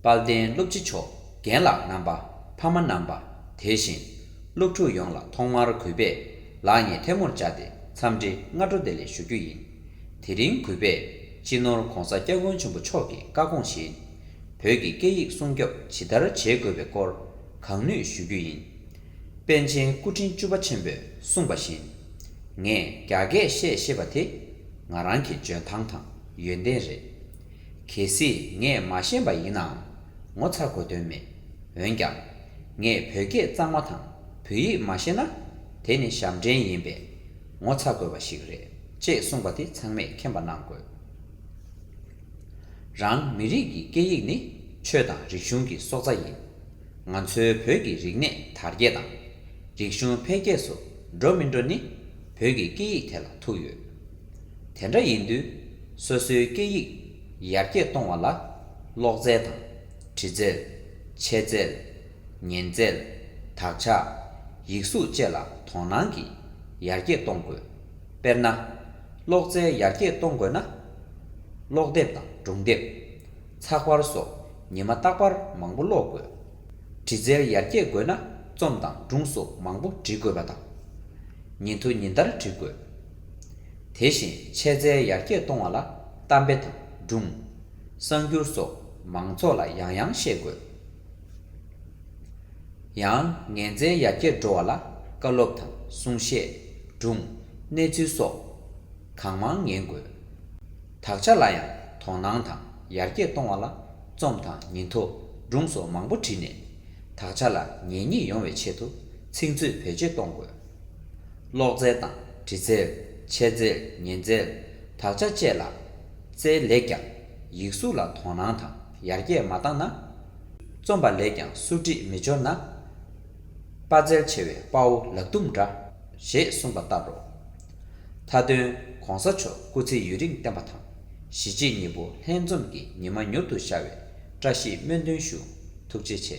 དཔལ་ལྡན་སློབ་སྤྱི་མཆོག་རྒན་ལགས་རྣམ་པ་ཕ་མ་རྣམ་པ་དེ་བཞིན་སློབ་ཕྲུག་ཡོངས་ལ་ཐོག་མར་གུས་པས་ལག་གཉིས་ཐལ་མོར་བཅག་སྟེ་འཚམས་འདྲི་སྔ་དྲོ་བདེ་ལེགས་ཞུ་རྒྱུ་ཡིན། དེ་རིང་གུས་པས་སྤྱི་ནོར ྋགོང་ས ྋསྐྱབས་མགོན་ཆེན་པོ་མཆོག་གི་བཀའ་དགོངས་བཞིན་བོད་ཀྱི་སྐད་ཡིག་སྲུང་སྐྱོབ་ཇི་ལྟར་བྱེད་དགོས་པའི་སྐོར་གང་ནུས་ཞུ་རྒྱུ་ཡིན། པཎ་ཆེན་སྐུ་ཕྲེང་བཅུ་པ་ཆེན་པོས་གསུངས་པ་བཞིན་ངས་རྒྱ་སྐད་བཤད་ཤེས་པ་དེ་ང་རང་གི་འཇོན་ཐང་དང་ཡོན་ཏན་རེད། གལ་སྲིད་ངས་མ་ཤེས་པ་ཡིན་ནའང་ངོ་ཚ་དགོས་དོན་མེད། འོན་ཀྱང། ངས་བོད་སྐད་གཙང་མ་དང་བོད་ཡིག་མ་ཤེས་ན། དེ་ནི་ཞབས་འདྲེན་ཡིན་པས། ངོ་ཚ་དགོས་པ་ཞིག་རེད་ཅེས་གསུངས་པ་དེ་ཚང་མས་མཁྱེན་པ་གནང་དགོས། རང་མི་རིགས་ཀྱི་སྐད་ཡིག་ནི་ཆོས་དང་རིག་གཞུང་གི་སྲོག་རྩ་ཡིན། ང་ཚོའི་བོད་ཀྱི་རིག་གནས་དར་རྒྱས་དང། རིག་གཞུང་འཕེལ་རྒྱས་སུ་འགྲོ་མི་འགྲོ་ནི་བོད་ཀྱི་སྐད་ཡིག་དེ་ལ་ཐུག་ཡོད། དེ་འདྲ་ཡིན་དུས་སོ་སོའི་སྐད་ཡིག་ཡར་རྒྱས་གཏོང་བ་ལ་ཀློག་རྩལ་དང། བྲི་རྩལ། འཆད་རྩལ། ཉན་རྩལ། དག་ཆ། ཡིག་གཟུགས་བཅས་ལ་དོ་སྣང་གིས་ཡར་རྒྱས་གཏོང་དགོས། དཔེར་ན། ཀློག་རྩལ་ཡར་རྒྱས་གཏོང་དགོས་ན། ཀློག་དེབ་དང་སྒྲུང་དེབ། ཚགས་པར་སོགས་ཉི་མ་རྟག་པར་མང་པོ་ཀློག་དགོས། བྲི་རྩལ་ཡར་རྒྱས་དགོས་ན་རྩོམ་དང་སྒྲུང་སོགས་མང་པོ་འབྲི་དགོས་པ་དང། ཉིན་ཐོ་ཉིན་ལྟར་བྲི་དགོས། དེ་བཞིན་ཆེད་རྩལ་ཡར་རྒྱས་གཏོང་བ་ལ་གཏམ་དཔེ་དང་སྒྲུང། གསར་འགྱུར་སོགས་མང་ཚོགས་ལ་ཡང་ཡང་བཤད་དགོས། ཡང་ངན་རྩལ་ཡར་རྒྱས་འགྲོ་བ་ལ་བཀའ་སློབ་དང་གསུང་བཤད། སྒྲུང། གནས་ཚུལ་སོགས་གང་མང་ཉན་དགོས། དག་ཆ་ལ་ཡང་དོ་སྣང་དང་ཡར་རྒྱས་གཏོང་བ་ལ་རྩོམ་དང་ཉིན་ཐོ་སྒྲུང་སོགས་མང་པོ་བྲིས་ནས་དག་ཆ་ལ་ཉན་ཉེས་ཡོང་བའི་ཆེད་དུ་ཚིག་མཛོད་བེད་སྤྱོད་གཏོང་དགོས། གློག་རྫས་དང་དྲི་རྫས། མཆེར་རྫས། ཉེན་རྫས། དག་ཆ་བཅས་ལ། རྩལ་ལེགས་ཀྱང། ཡིག་གཟུགས་ལ་དོ་སྣང་དང་ཡར་རྒྱས་མ་བཏང་ན། རྩོམ་པ་ལེགས་ཀྱང་གསོ་སྒྲིག་མི་འབྱོར་ན། དཔའ་རྩལ་ཆེ་བའི་དཔའ་བོ་ལག་དུམ་འདྲ། ཞེས་གསུངས་པ་ལྟར་རོ། མཐའ་དོན། གོང་ས་མཆོག་སྐུ་ཚེ་ཡུན་རིང་བརྟན་པ་དང། གཞིས་བྱེས་གཉིས་པོ་ལྷན་འཛོམས་ཀྱི་ཉི་མ་མྱུར་དུ་ཤར་བའི་བཀྲ་ཤིས་སྨོན་འདུན་ཞུ། ཐུགས་རྗེ་ཆེ།